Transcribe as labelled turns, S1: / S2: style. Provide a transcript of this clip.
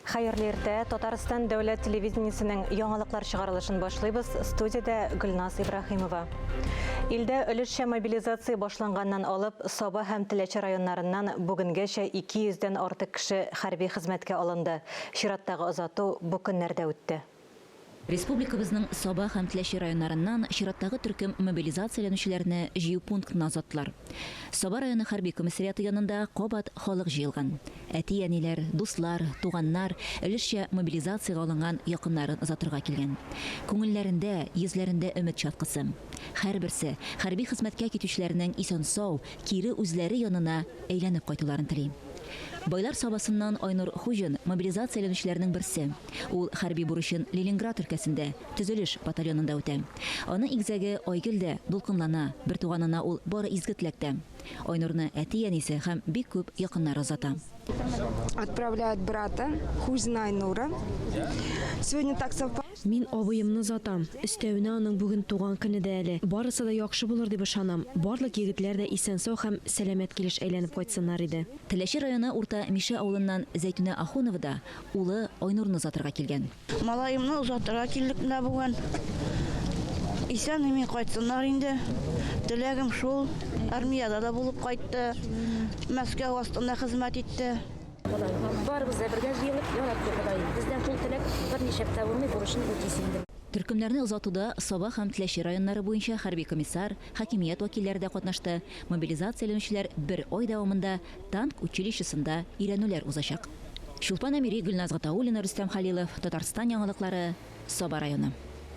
S1: Хәерле иртә! Татарстан дәүләт телевидениесенең яңалыклар чыгарылышын башлыйбыз. Студиядә Гөлназ Ибраһимова. Илдә өлешчә мобилизация башланганнан алып, Саба һәм Теләче районнарыннан бүгенгәчә 200 дән артык кеше хәрби хезмәткә алынды. Чираттагы озату бу көннәрдә үтте. Республикабызның
S2: Саба һәм Теләче районнарыннан чираттагы төркем мобилизацияләнүчеләрне җыю пунктына озаттылар. Саба районы хәрби комиссариаты янында кабат халык җыелган. Әти-әниләр, дуслар, туганнар өлешчә мобилизациягә алынган якыннарын озатырга килгән. Күңелләрендә, йөзләрендә өмет чаткысы. Һәрберсе хәрби хезмәткә китүчеләрнең исән-сау, кире үзләре янына әйләнеп кайтуларын тели. Байлар Сабасыннан Айнур Хуҗин, мобилизацияләнүчеләрнең берсе. Ул хәрби бурычын Ленинград өлкәсендә, төзелеш батальонында үтә. Аны игезәге Айгөл дә дулкынлана, бертуганына ул бары изге теләктә. Айнурны әти-әнисе һәм бик күп якыннары озата. Отправляют
S3: брата, Хузина Айнура. Сегодня так совпало, что. Мин абыемны
S4: озатам. Өстәвенә аның бүген туган көне дә әле. Барысы да яхшы булыр дип ышанам. Барлык егетләр дә исән-сау һәм сәламәт килеш әйләнеп кайтсыннар иде. Теләче районы Урта
S2: Мишә авылыннан Зәйтүнә Ахунова да Улы Айнурны озатырга килгән. Малаемны озатырга
S5: килдек менә бүген. Исән-имин кайтсыннар инде. Теләгем шул. Армиядә дә булып кайтты. Мәскәү астында хезмәт итте. Барыбыз
S6: да бергә җыелып яратты Ходай. Бездән шул теләк берничек тә булмый, бурычын үти син, ди. Төркемнәрне озатуда
S2: Саба һәм Теләче районнары буенча хәрби комиссар, хакимият вәкилләре дә катнашты. Мобилизацияләнүчеләр бер ай дәвамында Танк училищесында өйрәнүләр узачак. Чулпан Әмири, Гөлназ Гатауллина, Рөстәм Хәлилов, Татарстан яңалыклары, Саба районы.